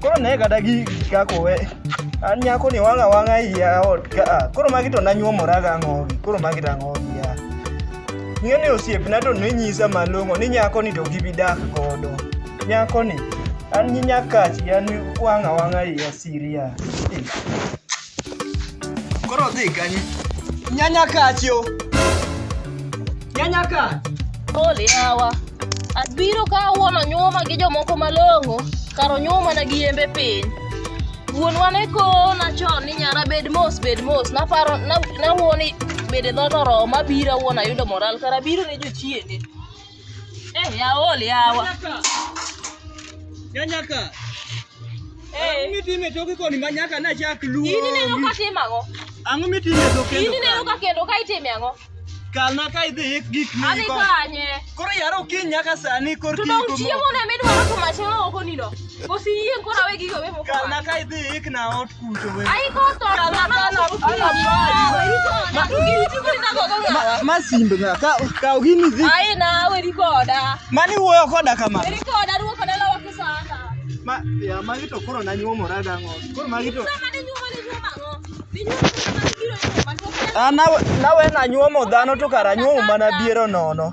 Koro ne kata gigi kaka owe. An nyako ni wanga wanga iya ot ka. Ah, koro magi to nanyuomora ga ngogi. Koro magi to ngogi ya. Ng'e ni osiep na to ninyisa malong'o ni nyako ni to gibi dak godo. Nyako ni an nyakachi an wanga wanga iya siria. Koro odhi kanye? Nyanya kachi o. Nyanya kachi. Ole yawa. Abiro ka wuon onyuma gi jomoko malong'o kar onyuma na gi yembe piny. Wuonwa ne kona chon ni nyara bed mos bed mos naparo nawuo ni bede dhoot oromo abiro awuon ayudo moral kara abiro ne jochiende. Eh, yaol yawa. Nyanyaka. Nyanyaka. Eh. Mitime toki koni manyaka na chak luo. Ini neno ka timo ang'o? Ang'o mitime toki kendo? Ini neno ka kendo ka itime ang'o? Kalna ka idhi ik gik miko. Adhi kanye. Koro yaro kiny nyaka sani kor kiny. Tudong chiemo na midwaro to machelo oko nino. Kosi yie kora we gigo we moko. Kalna ka idhi ik na ot. masimbe ng'a ka kaw gini dhi mani wuoyo koda kama ma ya magi to koro nanyuomora dang'o koro magi to an nawe nanyuomo dhano to kara anyuomo mana biero nono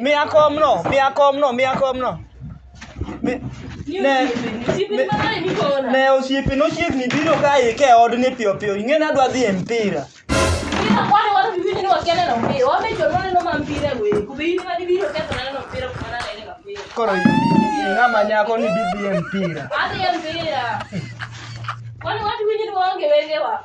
Miya komno, miya komno, miya komno. Mi- Ne, ne osiepe nochiegni biro ka ike odni piyo piyo. Ing'e nadwa dhi e mpira. Koro ng'ama nyako ni didhi e mpira. Adhi e mpira. Kwani watu winyi ni waonge wengewa.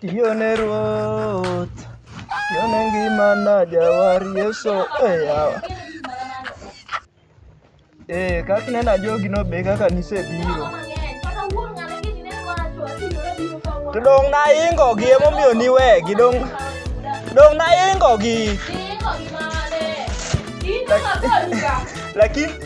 Tione Ruoth, tione ngimana jawar Yesu e yawa. Eh, kaka ineno ajogi no be kaka nisebiro. To dong' naingo gi emomiyo niwegi dong' dong' naingo gi. Lakini